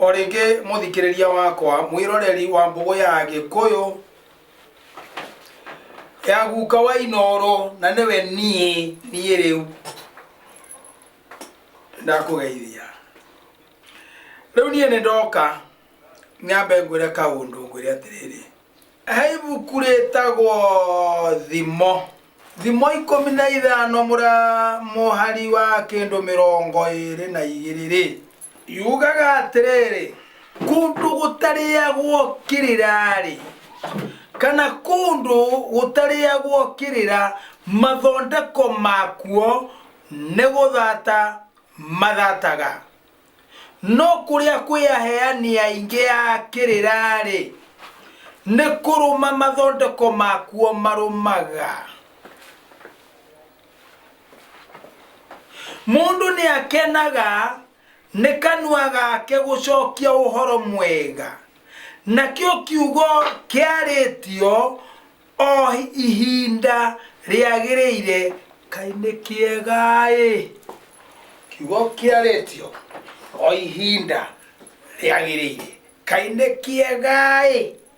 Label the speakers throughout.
Speaker 1: O rĩngĩ mũthikĩrĩria wakwa mwĩroreri wa mbũgũ ya gĩkũyũ ya guka wa inooro na nĩwe niĩ niĩ rĩu ndakũgeithia rĩu niĩ nĩ ndoka nyambe ngwĩre kaũndũ ngwĩre atĩrĩrĩ he ibuku rĩtagwo thimo thimo ikũmi na ithano mũra mũhari wa kĩndũ mĩrongo ĩrĩ na igĩrĩ rĩ yugaga atĩrĩrĩ kũndũ gũtarĩagwo kĩrĩra-rĩ kana kũndũ gũtarĩagwo kĩrĩra mathondeko makuo nĩ gũthata mathataga no kũrĩa kwĩ aheani aingĩ a kĩrĩra-rĩ nĩ kũrũma mathondeko makuo marũmaga mũndũ nĩ akenaga nĩ kanua gake gũcokia ũhoro mwega nakĩo kiugo kĩarĩtio o ihinda rĩagĩrĩire kaĩ nĩ kĩega-ĩ kiugo kĩarĩtio o ihinda rĩagĩrĩire kaĩ nĩ kĩega-ĩ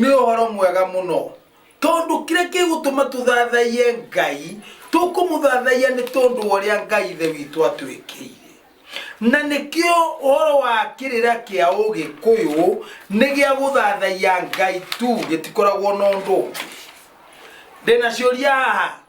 Speaker 1: nĩ ũhoro mwega mũno tondũ kĩrĩa kĩgũtũma tũthathaiye ngai tũkũmũthathaiya nĩ tondũ wa ũrĩa ngai ithe witũ atwĩkĩire na nĩkĩo ũhoro wa kĩrĩra kĩa ũgĩkũyũ nĩ gĩa gũthathaiya ngai tu gĩtikoragwo na ũndũ ũngĩ ndĩna ciũria haha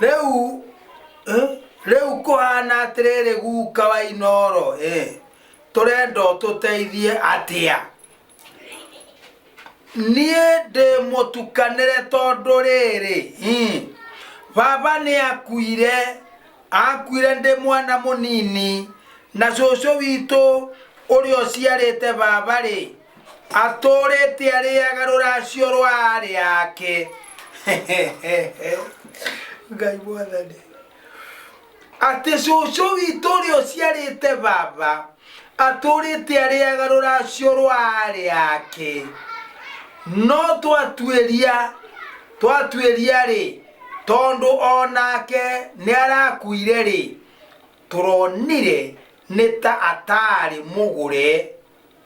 Speaker 1: rĩu eh, rĩu kũhana atĩrĩrĩ guka wa inoro eh, tũrenda ũtũteithie atĩa niĩ ndĩmũtukanĩre tondũ rĩrĩ mm, baba nĩ akuire akuire ndĩ mwana mũnini na cũcũ witũ ũrĩa ũciarĩte baba rĩ atũrĩte arĩaga rũracio rwa arĩ ake ngai mwathani atĩ cũcũ witũ ũrĩa ũciarĩte baba atũrĩte arĩaga rũracio rwa arĩ ake no twatuĩria twatuĩria rĩ tondũ o nake nĩ arakuire rĩ tũronire nĩ ta ataarĩ mũgũre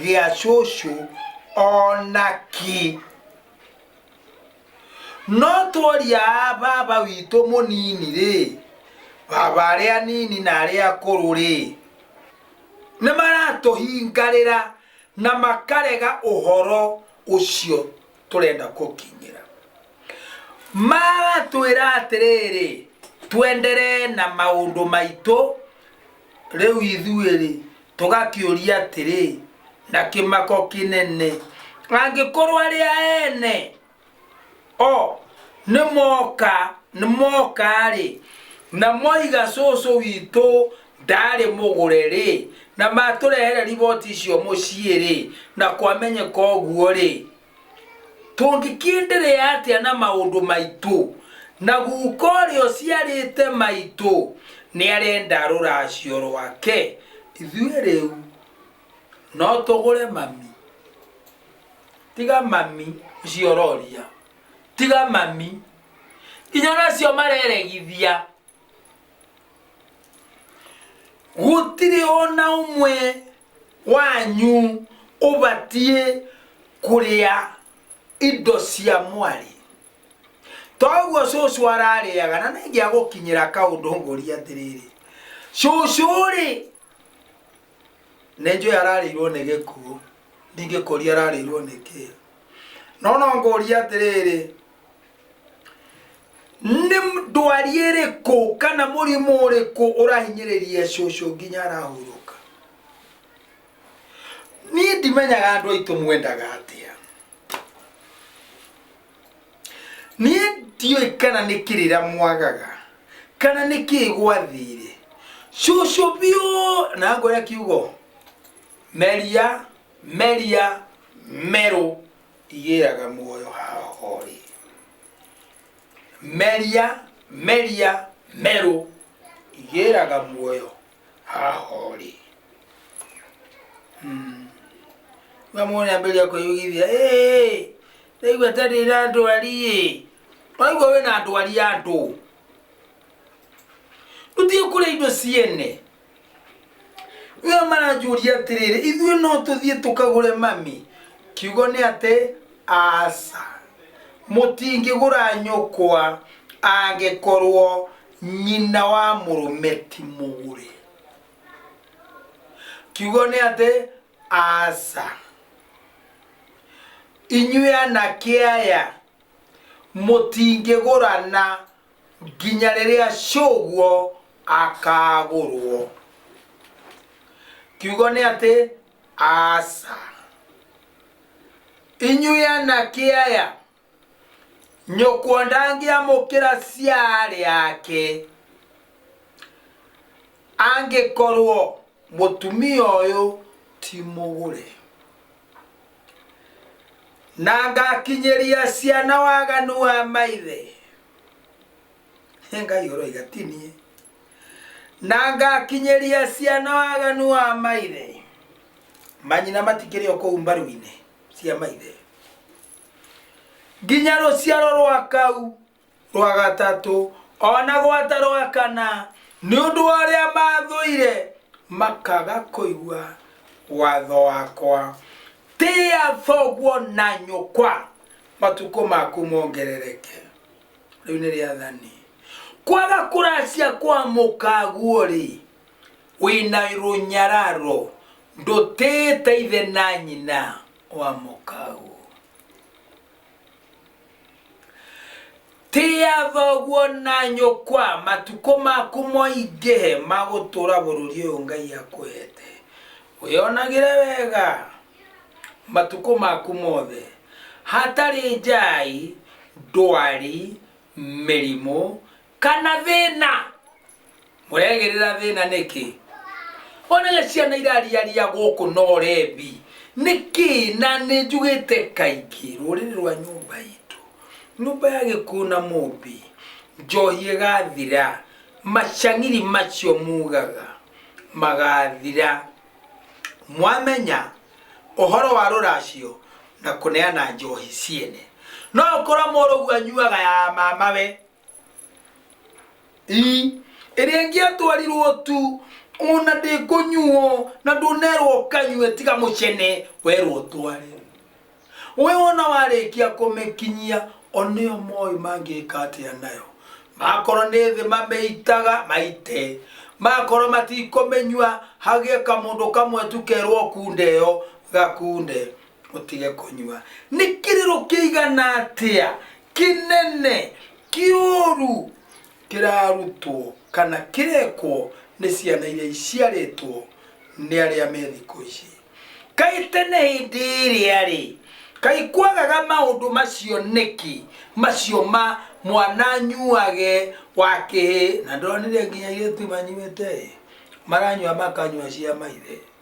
Speaker 1: gĩa cũcũ ona ki no tworia a baba witũ mũnini rĩ baba arĩa anini na arĩa akũrũ rĩ nĩ maratũhingarĩra na makarega ũhoro ũcio tũrenda kũkinyĩra maratwĩra atĩrĩrĩ twenderee na maũndũ maitũ Rĩu ithuĩ-rĩ, tũgakĩũria atĩrĩ, na kĩmako kĩnene, angĩkorwo arĩa ene o nĩ moka nĩ moka-rĩ, na moiga cũcũ witũ ndarĩ mũgũre-rĩ, na matũrehere riboti icio mũciĩ-rĩ, na kwamenyeka ũguo-rĩ, Tũngĩkĩenderea atĩa na maũndũ maitũ? Na guka ũrĩa ũciarĩte maitũ nĩ arenda rũracio rwake. Ithuĩ rĩu no tũgũre mami? Tiga mami ũcio ũroria, tiga mami. Nginya ona acio mareregithia. gũtirĩ ona ũmwe wanyu ũbatiĩ kũrĩa indo cia mwarĩ toguo cũcũ ararĩaga na nĩngĩa gũkinyĩra kaũndũ ngũria atĩrĩrĩ cũcũ rĩ nĩnjũĩ ararĩirwo nĩ gĩkuũ ndingĩkũria ararĩirwo nĩ kĩĩ no no ngũria atĩrĩrĩ nĩ ndwari ĩrĩkũ kana mũrimũ ũrĩkũ ũrahinyĩrĩria cũcũ nginya arahurũka niĩ ndimenyaga andũ aitũ mwendaga atĩa niĩ ndiũĩ kana nĩ kĩrĩra mwagaga kana nĩ kĩĩ gwathire cũcũ biũ na ngoya kiugo meria meria merũ igĩaga muoyo haha orĩ meria meria merũ igĩraga muoyo haha orĩ na mwone ambĩrĩria kwĩyugithia "Ĩĩ, ndaigua ta ndĩ na ndwari ĩ waigua wĩ na ndwari ya andũ tũthiĩ kũrĩa indo ciene Nĩo maranjũria atĩrĩrĩ, ithuĩ no tũthiĩ tũkagũre mami? Kiugo nĩ atĩ aca, mũtingĩgũra nyũkwa angĩkorwo nyina wa mũrũme ti mũgũre. Kiugo nĩ atĩ aca, inyuĩ anake aya mũtingĩgũrana nginya rĩrĩa cũguo akagũrwo kiugo nĩ atĩ aca inyuĩ anake aya nyũkwa ndangĩamũkĩra ciarĩ ake angĩkorwo mũtumia ũyũ ti mũgũre na ngakinyĩria ciana waganu wa maithe ngai ũroiga ti niĩ na ngakinyĩria ciana waganu wa maithe manyina matikĩrĩ o kũu mbaru-inĩ cia maithe nginya rũciaro rwa kau rwa gatatũ o na gwata rwa kana nĩ ũndũ wa ũrĩa mathũire makaga kũigua watho wakwa tĩa thoguo na nyũkwa matukũ maku mongerereke rĩu nĩ rĩathani kwaga kũracia kwa mũkaguo-rĩ wĩna rũnyararo ndũtĩĩte ithe na nyina wa mũkaguo Tĩa thoguo na nyũkwa matukũ maku moingĩhe ma gũtũũra bũrũri ũyũ Ngai akũhete. Wĩyonagĩre wega matukũ maku mothe. Hatarĩ njai, ndwari, mĩrimũ, kana thĩna mũregĩrĩra thĩna nĩkĩ onaga ciana irariaria gũkũ no rembi nĩkĩ na nĩ njugĩte kaingĩ rũrĩrĩ rwa nyũmba itũ nyũmba ya gĩkuũ na mũmbi njohi ĩgathira macang'iri macio mugaga magathira mwamenya ũhoro wa rũracio na kũneana njohi ciene no ũkorwo mũrũgu anyuaga ya mamawe Ii, ĩrĩa ĩngĩatwarirwo tu ona ndĩkũnyuo na ndũnerwo ũkanyue tiga mũcene werwo tware we wona warĩkia kũmĩkinyia onĩo moĩ mangĩka atĩa nayo makorwo nĩ thĩ mamĩitaga maite makorwo matikũmĩnyua hagĩe kamũndũ kamwe tu kerwo kunde yo gakunde ũtige kũnyua nĩ kĩrĩro kĩigana atĩa kĩnene kĩũru kĩrarutwo kana kĩrekwo nĩ ciana iria iciarĩtwo nĩ arĩa me thikũ ici kaĩ tene hĩndĩ ĩrĩa rĩ kaĩ kwagaga maũndũ macio nĩkĩ macio ma mwana anyuage wakĩhĩ na ndonire nginya irĩtu manyuĩte ĩ maranyua makanyua cia maithe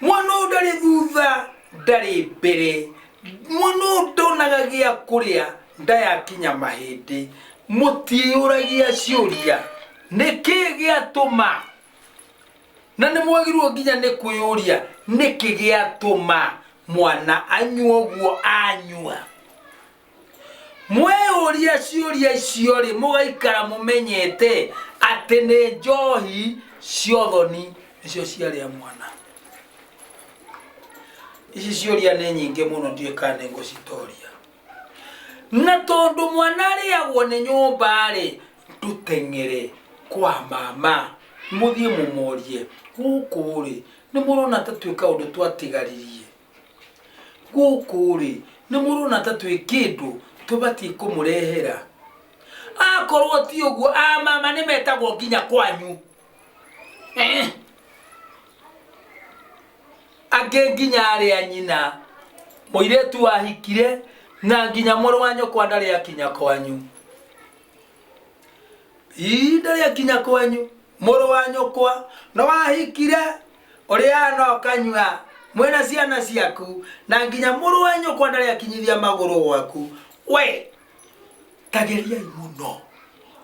Speaker 1: mwana ũyũ ndarĩ thutha ndarĩ mbere mwana ũyũ ndonaga gĩa kũrĩa ndayakinya mahĩndĩ mũtiĩyũragia ciũria nĩkĩ gĩatũma na nĩ mwagĩrĩirwo nginya nĩ kwĩyũria nĩkĩ gĩatũma mwana anyua ũguo anyua mwĩyũria ciũria icio-rĩ mũgaikara mũmenyete atĩ nĩ njohi cia ũthoni nĩcio ciarĩa mwana ici ciũria nĩ nyingĩ mũno ndiũĩ kana nĩ ngũcitoria na tondũ mwana arĩagwo nĩ nyũmba-rĩ tũteng'ere kwa mama mũthiĩ mũmorie gũkũ-rĩ nĩ mũrona ta twĩ kaũndũ twatigaririe gũkũ-rĩ nĩ mũrona ta twĩ kĩndũ tũbatiĩ kũmũrehera akorwo ti ũguo amama nĩ metagwo nginya kwanyu Eh. angĩ nginya arĩ a nyina mũirĩtu wahikire na nginya mũrũ wa nyũkwa ndarĩ akinya kwanyu ii ndarĩ akinya kwanyu mũrũ wa nyũkwa na wahikire ũrĩaga na ũkanyua mwĩ na ciana ciaku na nginya mũrũ wa nyũkwa ndarĩ akinyithia magũrũ gwaku we tageriai mũno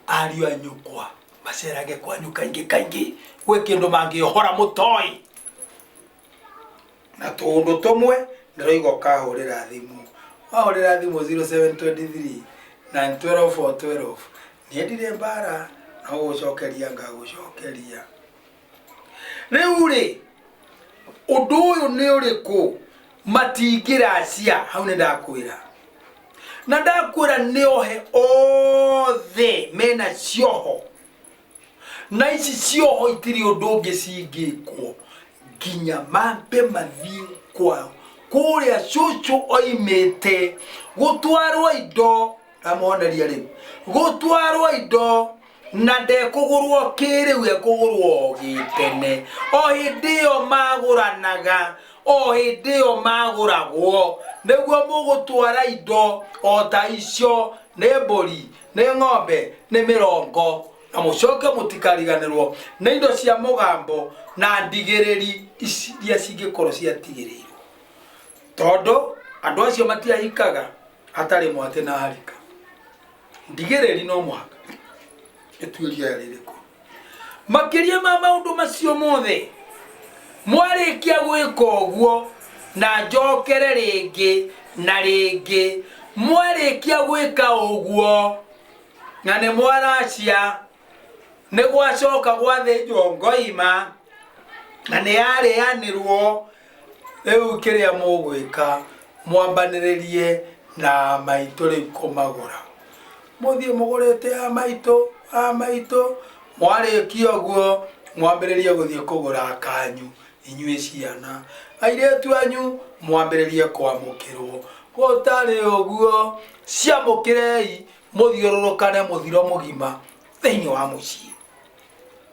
Speaker 1: ariũ a nyũkwa macerage kwanyu kaingĩ kaingĩ gwĩ kĩndũ mangĩohora mũtoi na tũũndũ tũmwe ndĩroiga ũkahũrĩra thimũ wahũrĩra thimũ 0723 na 12 for 12 niĩ ndirĩ mbara no gũcokeria ngagũcokeria rĩu rĩ ũndũ ũyũ nĩ ũrĩkũ matingĩracia hau nĩ ndakwĩra na ndakwĩra nĩ ohe othe mena cioho na ici cioho itirĩ ũndũ ũngĩ cingĩkwo nginya mambe mathiĩ kwao kũrĩa cũcũ oimĩte gũtwarwo indo ndamoneria rĩu gũtwarwo indo na ndekũgũrwo kĩrĩu ekũgũrwo o gĩtene o hĩndĩ ĩyo magũranaga o hĩndĩ ĩyo magũragwo nĩguo mũgũtwara indo o ta icio nĩ mbũri nĩ ng'ombe nĩ mĩrongo na mũcoke mũtikariganĩrwo nĩ indo cia mũgambo na ndigĩrĩri ici iria cingĩkorwo ciatigĩrĩirwo tondũ andũ acio matiahikaga hatarĩ mwatĩ na harika ndigĩrĩri no mũhaka ĩtuĩria rĩrĩkũ makĩria ma maũndũ macio mothe mwarĩkia gwĩka ũguo na njokere rĩngĩ na rĩngĩ mwarĩkia gwĩka ũguo na nĩ mwaracia nĩ gwacoka gwathĩnjwo ngoima na nĩ yarĩanĩrwo Rĩu kĩrĩa mũgwĩka, mwambanĩrĩrie na maitũ rĩu kũmagũra. Mũthiĩ mũgũrĩte a maitũ, a maitũ, mwarĩkia ũguo mwambĩrĩrie gũthiĩ kũgũra kanyu inyuĩ ciana. Airĩtu anyu mwambĩrĩrie kwamũkĩrwo. Gũtarĩ ũguo, ciamũkĩrei mũthiũrũrũkane mũthiro mũgima thĩinĩ wa mũciĩ.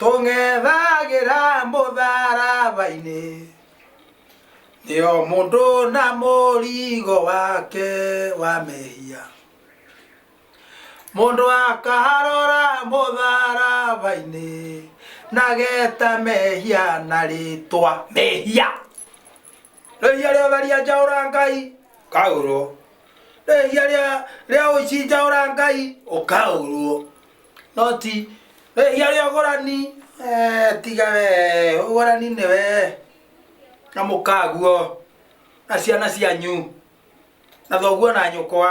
Speaker 1: tũng'ethagĩra mũtharaba-inĩ nĩo mũndũ na mũrigo wake wa mehia mũndũ akarora mũtharaba-inĩ nageta mehia na rĩtwa mehia rĩhia rĩa ũtharia njaũra ngai ũkaũrwo rĩhia rĩa rĩa ũici njaũra ngai ũkaũrwo no ti rĩhia rĩa ũgũrani eh, tiga we ũgũrani nĩ we na mũkaguo na ciana cianyu na thoguo na nyũkwa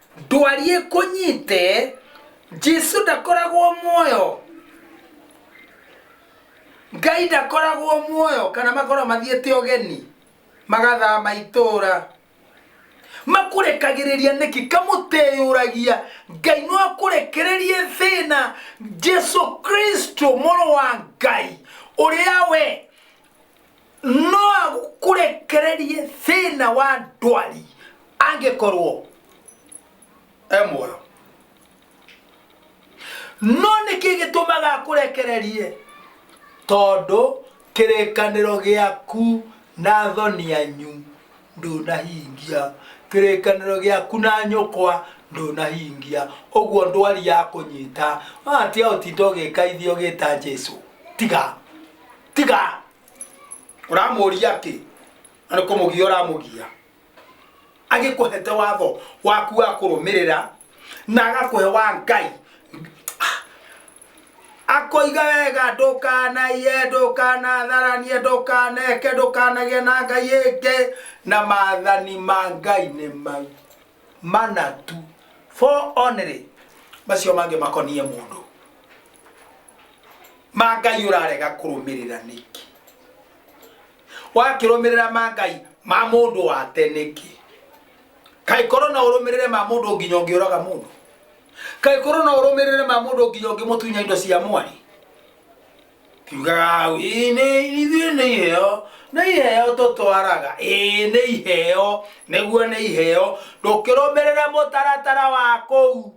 Speaker 1: ndwari ĩkũnyite jesu ndakoragwo muoyo ngai ndakoragwo muoyo kana makorwo mathiĩte ũgeni magathama itũũra makũrekagĩrĩria nĩki kamũteyũragia ngai no akũrekererie thĩna jesu kristo mũrũ wa ngai ũrĩa we no agũkũrekererie thĩna wa ndwari angĩkorwo e muoyo no nĩkĩ gĩtũmaga akũrekererie tondũ kĩrĩkanĩro gĩaku na thoni yanyu ndũnahingia kĩrĩkanĩro gĩaku na nyũkwa ndũnahingia ũguo ndwari ya kũnyita atia ũtinda ũgĩkaithia ũgĩta jesu tiga tiga ũramũria atä na nä kå må gia å ramå gia agä kå hete watho waku wa kå rå mä rä ra na agakå he wa ngai akoiga wega ndũkanaiye ndũkanatharanie ndũkaneke ndũkanagĩa na ngai ĩngĩ na maathani ma ngai nĩ mau mana tu four only macio mangĩ makoniĩ mũndũ ma ngai ũrarega kũrũmĩrĩra nĩkĩ wakĩrũmĩrĩra ma ngai ma mũndũ wa tene kĩ kaĩ korwo no ũrũmĩrĩre ma mũndũ nginya ũngĩũraga mũndũ kaĩ korwo no ũrũmĩrĩre ma mũndũ nginya ũngĩmũtunya indo cia mwari kiugaga hau ĩĩ nĩ ithuĩ nĩ iheo nĩ iheo tũtwaraga ĩĩ nĩ iheo nĩguo nĩ iheo ndũkĩrũmĩrĩre mũtaratara wa kũu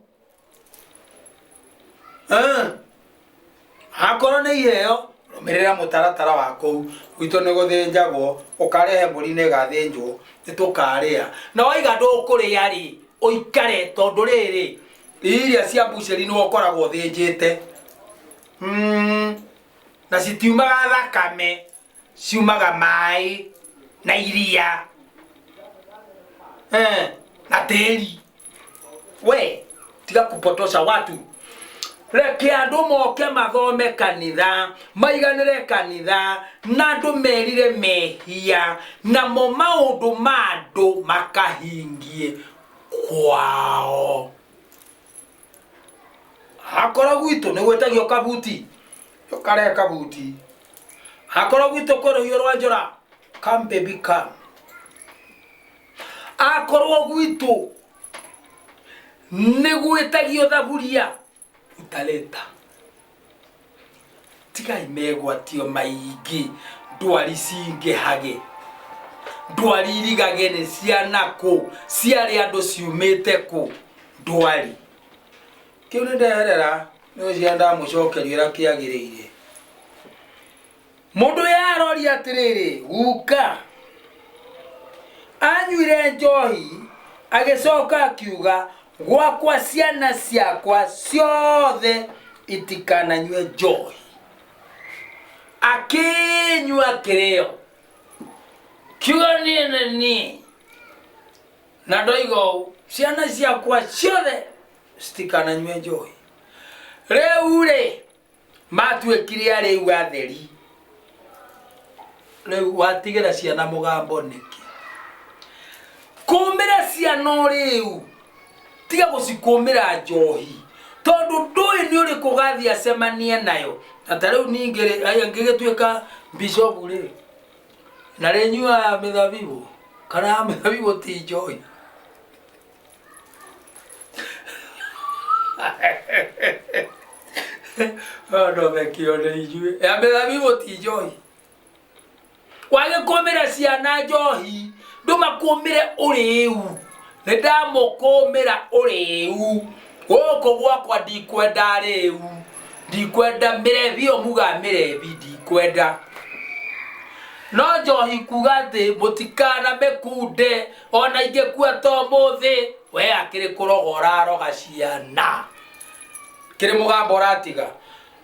Speaker 1: Eh. akorwo nĩ iheo rũmĩrĩra mũtaratara wa kũu gwitũ nĩ gũthĩnjagwo ũkarehe mbũri nĩ ĩgathĩnjwo nĩ tũkarĩa na waiga ndũkũrĩa rĩ ũikare tondũ rĩrĩ iria cia mbucĩri nĩ ũkoragwo ũthĩnjĩte Mm, na citiumaga thakame ciumaga maĩ na iria eh, na tĩri we tiga kupotosha watu reke andå moke mathome kanitha maiganĩre kanitha na andå merire mehia namo maå ndå ma andå makahingie kwao hakoro gwitũ nĩ gwĩtagio kabuti yũkare kabuti hakoro gwitũ kwĩ rũhiũ rwa njora come baby come akorwo gwitũ nĩ gwĩtagio thaburia utaleta tigai megwatio maingĩ ndwari cingĩhage ndwari irigage nĩ ciana kũ ciarĩ andũ ciumĩte kũ ndwari kĩu nĩ nderera nĩ ũcio ndamũcokeria ũrĩa kĩagĩrĩire Mũndũ ũyũ aroria atĩrĩrĩ, guka. Anyuire njohi, agĩcoka akiuga, gwakwa ciana ciakwa ciothe itikananyue njohi. Akĩnyua kĩrĩo, kiuga niĩ nĩ niĩ. Na ndoiga ũũ, ciana ciakwa ciothe citikananyue njohi. Rĩu-rĩ, matuĩkire arĩu atheri rĩu watigĩra ciana mũgambo nĩkĩ kũmĩra ciana ũrĩu tiga gũcikũmĩra njohi tondũ ndũĩ nĩ ũrĩkũ gathiĩ acemanie nayo na ta rĩu ningĩ rĩ, aya ngĩgĩtuĩka bishopu rĩ na rĩnyuaga mĩthabibũ kana ya mĩthabibũ ti njohi ndothekio nĩ ithuĩ ya mĩthabibũ ti njohi wagĩkũmĩra ciana njohi ndũmakũmĩre ũrĩu nĩ ndamũkũmĩra ũrĩu gũkũ gwakwa ndikwenda rĩu ndikwenda mĩrebi ĩyo muga mĩrebi ndikwenda no njohi kuga atĩ mũtikana mĩkunde Ona ingĩkua to mũthĩ, we akĩrĩ kũroga ũraroga ciana. Kĩrĩ mũgambo ũratiga.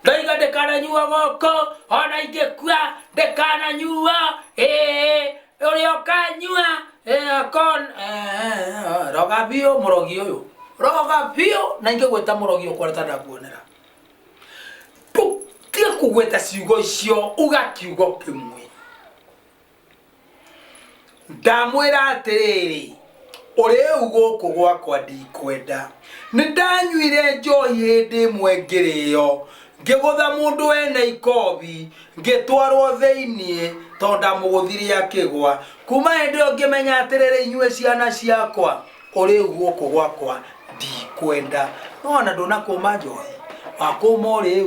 Speaker 1: Ndoiga ndĩkananyua gũkũ, ona ingĩkua ndĩkananyua, ĩĩ, ũrĩa ũkanyua, ĩĩ, akon, ĩĩ, roga biũ mũrogi ũyũ. Roga biũ, na ingĩgwĩta mũrogi ũkoreta ndakuonera. Ndũtige kũgweta ciugo icio, uga kiugo kĩmwe. ndamwĩra atĩrĩrĩ ũrĩu gũkũ gwakwa ndikwenda nĩ ndanyuire njohi hĩndĩ ĩmwe ngĩrĩyo ngĩgũtha mũndũ wene ikobi ngĩtwarwo thĩinĩ tondũ ndamũgũthire akĩgwa kuma hĩndĩ ĩyo ngĩmenya atĩrĩrĩ inyuĩ ciana ciakwa ũrĩu gũkũ gwakwa ndikwenda nona ndũnakũma njohi wakũma ũrĩu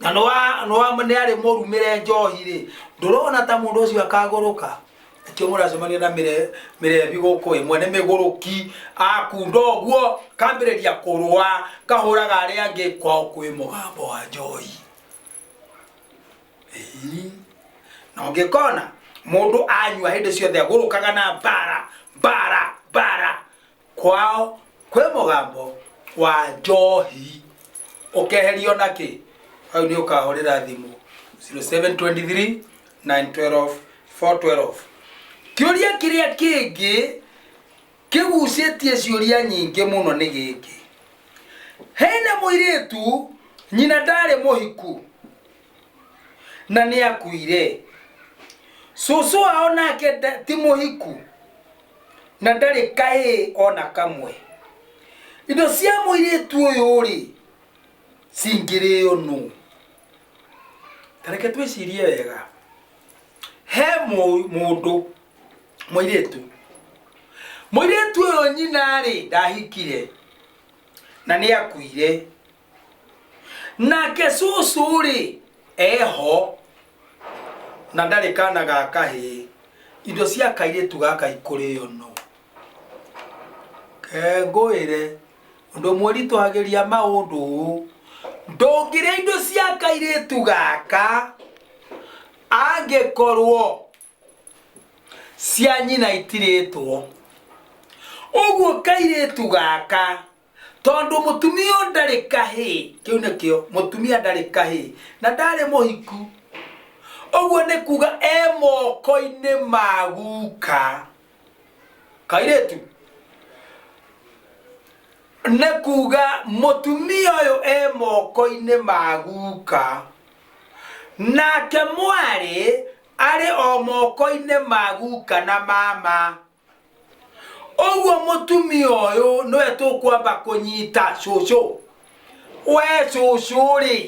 Speaker 1: na nĩ wa- nĩ wa- nĩ arĩ mũrumĩre njohi-rĩ ndũrona ta mũndũ ũcio akagũrũka nĩkĩo mũracemania na mĩre- mĩrebi gũkũ ĩ mwene mĩgũrũki akunda ũguo kambĩrĩria kũrũa kahũraga arĩa angĩ kwao kwĩ mũgambo wa njohi Ĩĩ. na ũngĩkona mũndũ anyua hĩndĩ ciothe agũrũkaga na mbara mbara mbara kwao kwĩ mũgambo wa njohi ũkeherio na kĩ hau nĩ ũkahũrĩra thimũ 0723 912 412 kĩũria kĩrĩa kĩngĩ kĩgucĩtie ciũria nyingĩ mũno nĩ gĩkĩ hena mũirĩtu nyina ndarĩ mũhiku na nĩ akuire cũcũ wao nake nda- ti mũhiku na ndarĩ kaĩ o na kamwe indo cia mũirĩtu ũyũ rĩ cingĩrĩo nũ tareke twĩcirie wega he mũ- mũndũ mũirĩtu mũirĩtu ũyũ nyina rĩ ndahikire na nĩ akuire nake cucu-rĩ eho na ndarĩ kana ga kahĩĩ indo cia kairĩtu gaka ikũrĩo no kengũĩre ũndũ mwĩritũhagĩria maũndũ ũũ ndũngĩrĩa indo cia kairĩtu gaka angĩkorwo cia nyina itirĩtwo ũguo kairĩtu gaka tondũ mũtumia ũyũ ndarĩ kahĩ kĩu nĩkĩo mũtumia ndarĩ kahĩ na ndarĩ mũhiku ũguo nĩ kuga e moko-inĩ ma guka kairĩtu nĩ kuga mũtumia ũyũ e moko-inĩ ma guka nake mwarĩ arĩ o moko-inĩ ma guka na mama ũguo mũtumia ũyũ nĩwe tũkwamba kũnyita cũcũ we cũcũ rĩ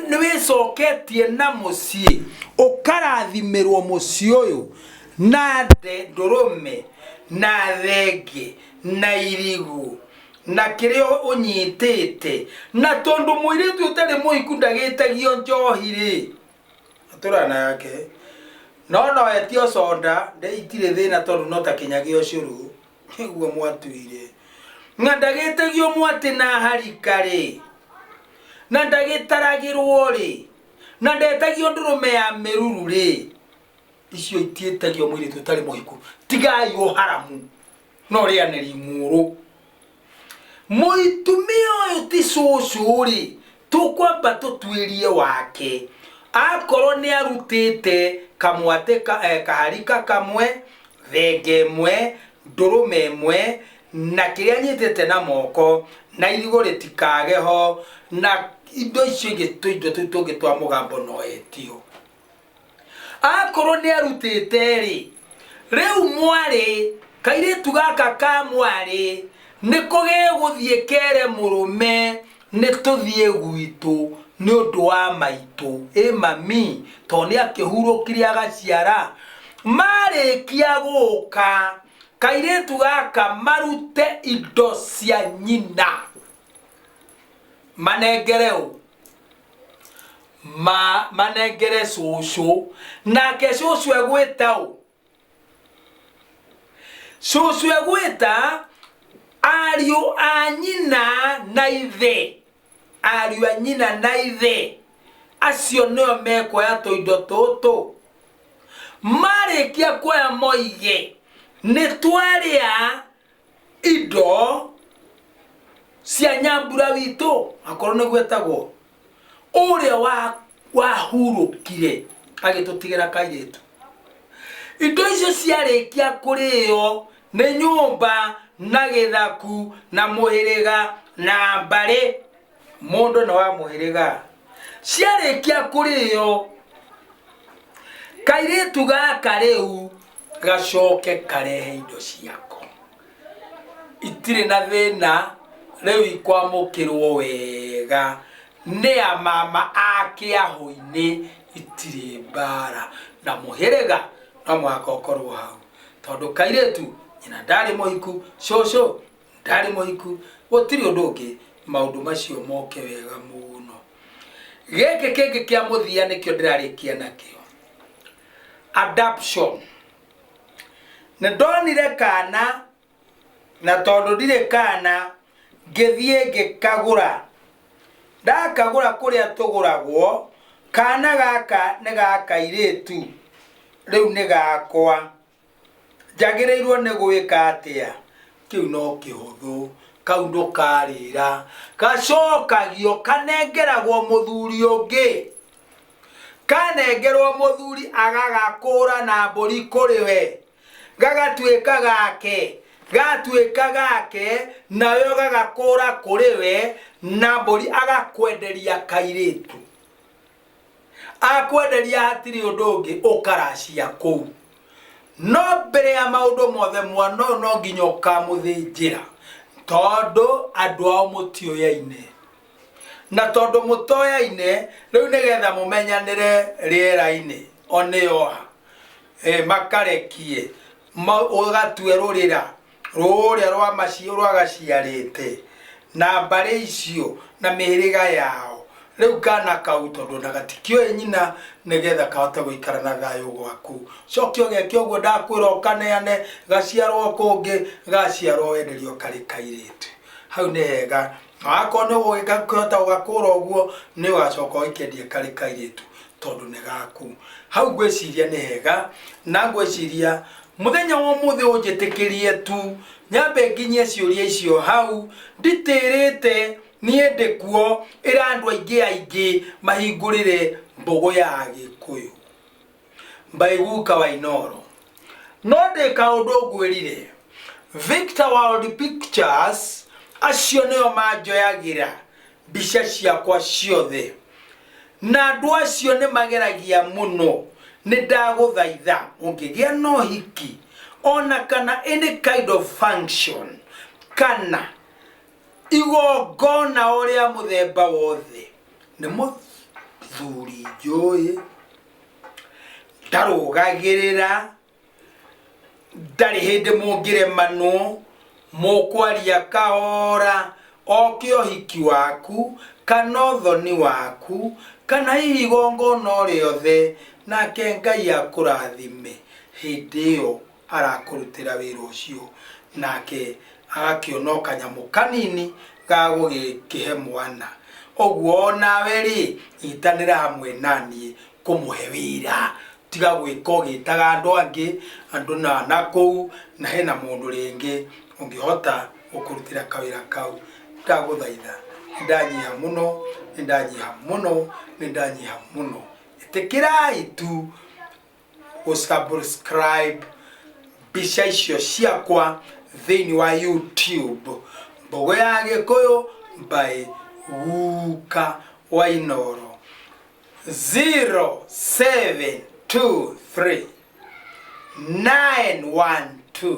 Speaker 1: nĩwĩcoketie na mũciĩ ũkarathimĩrwo mũciĩ ũyũ na ndũrũme na thenge na irigũ na kĩrĩa ũnyitĩte na tondũ mũirĩtu ũtarĩ mũhiku ndagĩtagio njohi rĩ atũrana yake no no etio conda nde itirĩ thĩna tondũ no ta kĩnyagĩ ũcũrũ nĩguo mwatuire na ndagĩtegio mwatĩ na harika rĩ na ndagĩtaragĩrwo rĩ na ndetagio ndũrũme ya mĩruru rĩ icio itiĩtagio mwĩrĩ tũtarĩ mũhiku tigai ũharamu no rĩanĩri mũrũ mũitumia ũyũ ti cũcũ rĩ tũkwamba tũtuĩrie wake akorwo nĩ arutĩte kamwatĩ ka, eh, kaharika kamwe thenge ĩmwe ndũrũme ĩmwe na kĩrĩa anyitĩte na moko na irigũ rĩtikage ho na indo icio ingĩ tũindo tũu tũngĩ twa mũgambo noetio akorwo nĩ arutĩte-rĩ rĩu mwarĩ kairĩtu gaka ka mwarĩ nĩ kũgĩgũthiĩ kere mũrũme nĩ tũthiĩ gwitũ nĩ ũndũ wa maitũ ĩ mami tondũ nĩ akĩhurũkire agaciara, marĩkia gũka kairĩtu gaka marute indo cia nyina manengere ũ? ma manengere cũcũ nake cũcũ egwĩta ũ cũcũ egwĩta ariũ a nyina na ithe ariũ a nyina na ithe acio nĩo mekuoya tũindo tũtũ marĩkia kuoya moige nĩ twarĩa indo cia nyambura witũ akorwo nĩguo etagwo ũrĩa wa- wahurũkire agĩtũtigĩra kairĩtu indo icio ciarĩkia kũrĩo nĩ nyũmba na gĩthaku na mũhĩrĩga na mbarĩ mũndũ na wa mũhĩrĩga ciarĩkia kũrĩo kairĩtu gaka rĩu gacoke karehe indo ciako itirĩ na thĩna rĩu ikwamũkĩrwo wega nĩ a mama ake ahũinĩ itirĩ mbara na mũhĩrĩga no mũhaka ũkorwo hau tondũ kairĩtu nyina ndarĩ mũhiku cũcũ ndarĩ mũhiku gũtirĩ ũndũ ũngĩ maũndũ macio moke wega mũno gĩkĩ kĩngĩ kĩa mũthia nĩkĩo ndĩrarĩkia nakĩo adaption nĩ ndonire kana na tondũ ndirĩ kana ngĩthiĩ ngĩkagũra ndakagũra kũrĩa tũgũragwo kana gaka nĩ gakairĩtu rĩu nĩ gakwa njagĩrĩirwo nĩ gwĩka atĩa kĩu no kĩhũthũ kau ndũkarĩra gacokagio kanengeragwo mũthuri ũngĩ kanengerwo mũthuri agagakũra na mbũri kũrĩ we gagatuĩka gake gatuĩka gake nawe ũgagakũra kũrĩ we na mbũri agakwenderia kairĩtu akwenderia hatirĩ ũndũ ũngĩ ũkaracia kũu no mbere ya maũndũ mothe mwana ũyũ no nginya ũkamũthĩnjĩra tondũ andũ ao mũtioyaine na tondũ mũtoyaine rĩu nĩgetha mũmenyanĩre rĩera-inĩ onĩoha e, makarekie ma ũgatue rũrĩra rũrĩa rwa maciũ rwagaciarĩte na mbarĩ icio na mĩhĩrĩga yao rä u kana kau tondå na gatikioä nyina nä getha kahote gå ikara na thayå gwaku coke å geke å guo ndakwä ra å kaneane gaciarwo kå ngä gaciarwo wenderio karä kairä tu hau nä hega akorwo nĩ ũgũgĩka kũhota ũgakũra ũguo nĩ ũgacoka ũikendie karĩ kairĩtu tondũ nĩ gaku hau ngwĩciria nĩ hega na ngwĩciria mũthenya wa ũmũthĩ ũnjĩtĩkĩrie tu nyambe nginyie ciũria icio hau nditĩrĩte niĩ ndĩ kuo ĩra andũ aingĩ aingĩ mahingũrĩre mbũgũ ya gĩkũyũ mbaiguka wa inoro no ndĩ kaũndũ ngwĩrire victor world pictures acio nĩo manjoyagĩra mbica ciakwa ciothe na andũ acio nĩ mageragia mũno nĩ ndagũthaitha ũngĩgĩa na ũhiki ona kana any kind of function kana igongona o rĩa mũthemba wothe nĩ mũthuri njũĩ ndarũgagĩrĩra ndarĩ hĩndĩ mũngĩremanwo mũkwaria kahora oke ũhiki waku kana ũthoni waku kana hihi igongona o rĩothe nake ngai akũrathime hĩndĩ ĩyo arakũrutĩra wĩra ũcio, nake agakĩona o kanyamũ kanini ga gũgĩkĩhe mwana. Ũguo o nawe-rĩ, nyitanĩra hamwe na niĩ kũmũhe wĩra, tiga gwĩka ũgĩtaga andũ angĩ, andũ na na kũu, na hena mũndũ rĩngĩ ũngĩhota gũkũrutĩra kawĩra kau. Ndagũthaitha, nĩ ndanyiha mũno, nĩ ndanyiha mũno, nĩ ndanyiha mũno, ĩtĩkĩrai tu. gũsubscribe mbica icio ciakwa thĩinĩ wa youtube mbogo ya gĩkũyũ by guka wainoro 0723 912